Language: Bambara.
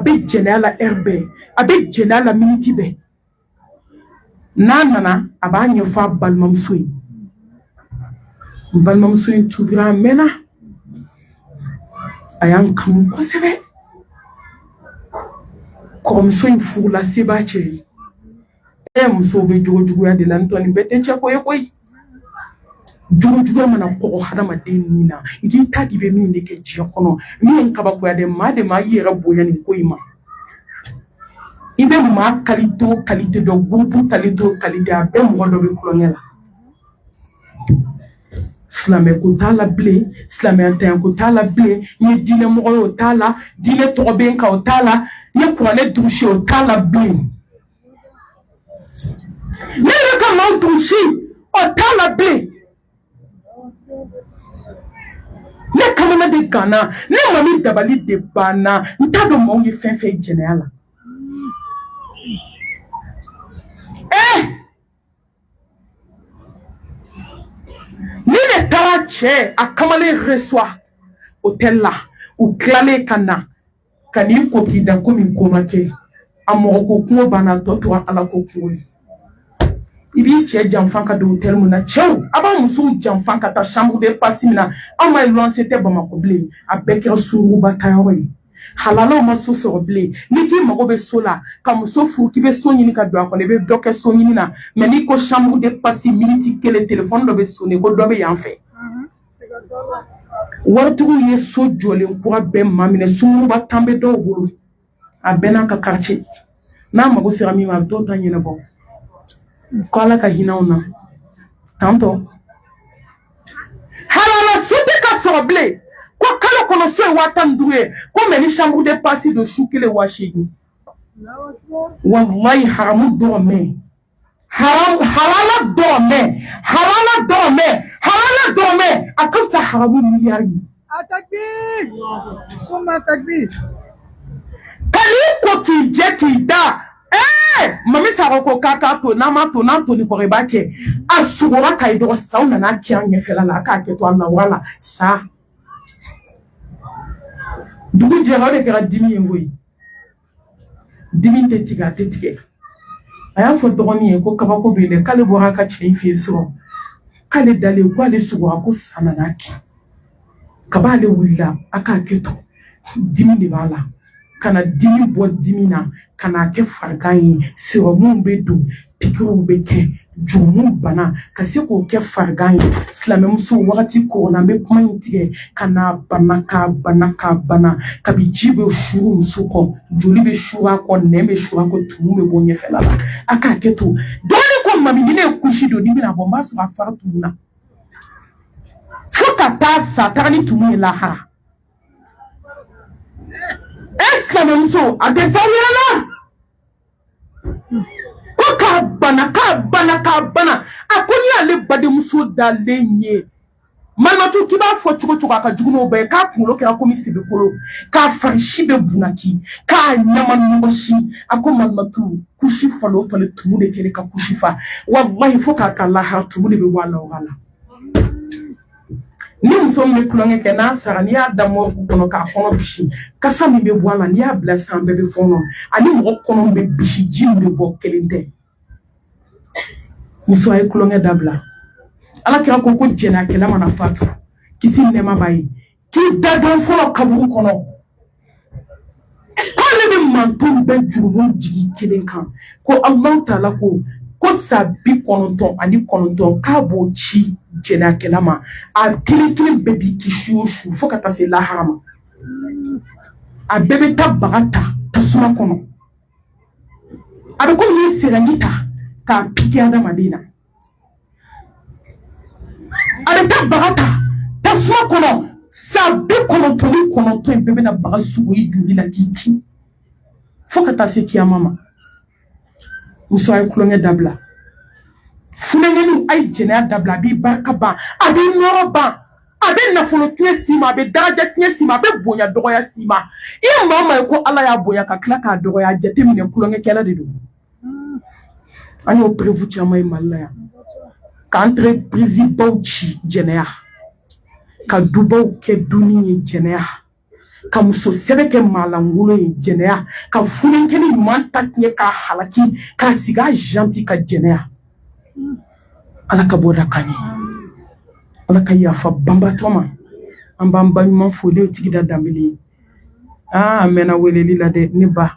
a bɛ jɛnɛya la heure bɛɛ a bɛ jɛnɛya la minute bɛɛ n'a nana a b'a ɲɛfɔ a balimamuso ye balimamuso in tuubira a mɛnna a y'an kanu kosɛbɛ kɔrɔmuso in furula se b'a cɛ ye e muso bɛ jogo juguya de la n'o tɛ nin bɛɛ tɛ cɛ ko ye koyi jogo juguya mana kɔgɔ hadamaden min na n'i ta de bɛ min de kɛ diɲɛ kɔnɔ min kabakoya dɛ maa de ma i yɛrɛ bonya nin ko in ma i bɛ maa kalite o kalite dɔ gurupu kalite o kalite a bɛɛ mɔgɔ dɔ bɛ kolonkɛ la silamɛ ko t'a la bilen silamɛyatanya ko t'a la bilen n ye diinɛ mɔgɔ ye o t'a la diinɛ tɔgɔ bɛ n kan o t'a la n ye kuranɛ durusi o t'a la bilen ne yɛrɛ ka maaw durusi o t'a la bilen ne kamana de ganna ne mami dabali de banna n t'a dɔn maaw ye fɛn fɛn ye jɛnɛya la ee eh! Ni ne taara cɛ a kamalen reçoit hôtel la u tilalen ka na ka n'i ko k'i da komi ko ma kɛ a mɔgɔ ko kunko banna tɔ tora ala ko kunko ye i b'i cɛ janfa ka don hôtel mun na cɛw a b'a musow janfa ka taa chambre de passe mun na anw ma luwanse tɛ bamakɔ bilen a bɛɛ kɛra sungurunba tayɔrɔ ye Halalaw ma so sɔrɔ bilen ni k'i mago bɛ so la ka muso furu k'i bɛ so ɲini ka don a kɔnɔ i bɛ dɔ kɛ so ɲini na mɛ n'i ko chambre de passe miniti kelen téléphone dɔ bɛ sonner ko dɔ bɛ yan fɛ waritigiw ye so jɔlen kura bɛɛ maminɛ sungurunba tan bɛ dɔw bolo a bɛɛ n'a ka ka n'a mago sera min ma a bɛ t'o ta ɲɛnabɔ ko Ala ka hin'anw na tantɔ halala so tɛ ka sɔrɔ bilen ko kalo kɔnɔ so ye waa tan ni duuru ye ko mɛ ni chambre de passe don su kelen waa seegin walayi haramu dɔrɔmɛ halala dɔrɔmɛ halala dɔrɔmɛ halala dɔrɔmɛ a ka fisa haramu miliyari ye a takbir suma takbir ka n'i ko k'i jɛ k'i da ee mami sago ko k'a k'a to n'a ma to n'a to ni kɔrɔ i b'a cɛ a sugora k'a ye dɔgɔ saw nana kɛ a ɲɛfɛla la a k'a kɛ to a nawura la sa dugu jɛra o de kɛra dimi ye koyi dimi tɛ tigɛ a tɛ tigɛ a y'a fɔ dɔgɔnin ye ko kabako bɛ yen dɛ k'ale bɔra a ka cɛ in fɛ yen sɔrɔ k'ale dalen k'ale sugora ko sa nana kɛ kab'ale wulila a k'a kɛ to dimi de b'a la ka na dimi bɔ dimi na ka n'a kɛ farigan ye serɔmu bɛ don Pikiriw bɛ kɛ jurumu bana ka se k'o kɛ farigan ye silamɛmuso waati ko na an bɛ kuma in tigɛ ka na bana ka bana ka bana kabi ji bɛ suuru muso kɔ joli bɛ suuru a kɔ nɛn bɛ suuru a kɔ tumu bɛ bɔ ɲɛfɛla la a k'a kɛ to dɔɔnin ko mami ni ne ye kusi don ni bɛna bɔ n b'a sɔrɔ a fa tumu na fo ka taa sa taa ni tumu ye lahara e silamɛmuso a tɛ fɛn wɛrɛ la ko k'a bana k'a bana k'a bana a ko n'i y'ale badenmuso dalen ye malimatu k'i b'a fɔ cogo cogo a ka jugu n'o bɛɛ ye k'a kunkolo kɛra komi sebekolo k'a fari si bɛɛ bunaki k'a ɲama ɲɔgɔsi a ko malimatu kusi falen o falen tumu de kɛlen ka kusi fa walahi fo ka taa lahara tumu de bɛ bɔ a la o la ni muso min bɛ tulonkɛ kɛ n'a sara n'i y'a da mɔriku kɔnɔ k'a kɔnɔ bisi kasa min bɛ bɔ a la n'i y'a bila san bɛɛ bɛ fɔɔnɔ ani mɔgɔ kɔnɔ bɛ bisi ji min bɛ bɔ kelen tɛ muso a ye tulonkɛ dabila ala kira ko ko jɛnɛyakɛla mana fatu kisi nɛɛma b'a ye k'i da don fɔlɔ kaburu kɔnɔ k'ale bɛ manton bɛɛ jurumu jigi kelen kan ko Alahu taala ko ko sa bi kɔnɔntɔn ani kɔnɔntɔn k'a b'o ci jɛnɛyakɛla ma a kelen kelen bɛɛ b'i kin su o su fo ka taa se lahara ma a bɛɛ bɛ taa baga ta tasuma kɔnɔ a bɛ komi n'i ye sɛgɛnji ta k'a piki adamaden na A bɛ taa baga ta tasuma kɔnɔ sa bi kɔnɔntɔn ni kɔnɔntɔn in bɛɛ bɛna baga sugu i joli la k'i kin fo ka taa se kiyama ma muso a ye tulonkɛ dabila funankɛninw a ye jɛnɛya dabila a b'i barika ban a b'i nɔrɔ ban a bɛ nafolo tiɲɛ s'i ma a bɛ daraja tiɲɛ s'i ma a bɛ bonya dɔgɔya s'i ma i ye maa o maa ye ko Ala y'a bonya ka tila k'a dɔgɔya a jateminɛ tulonkɛkɛla de don an y'o preuve caman ye mali la yan ka entreprise baw ci jɛnɛya ka dubaw kɛ dunin ye jɛnɛya ka muso sɛbɛ kɛ maalankolon ye jɛnɛya ka funankɛnin ɲuman ta tiɲɛ k'a halaki k'a sigi a janti ka jɛnɛya ala ka bɔda k'an ye ala ka yafa banbatɔ ma an b'an ba ɲuman fo ne tigi da Danbele ye aa mɛnna weleli la dɛ ne ba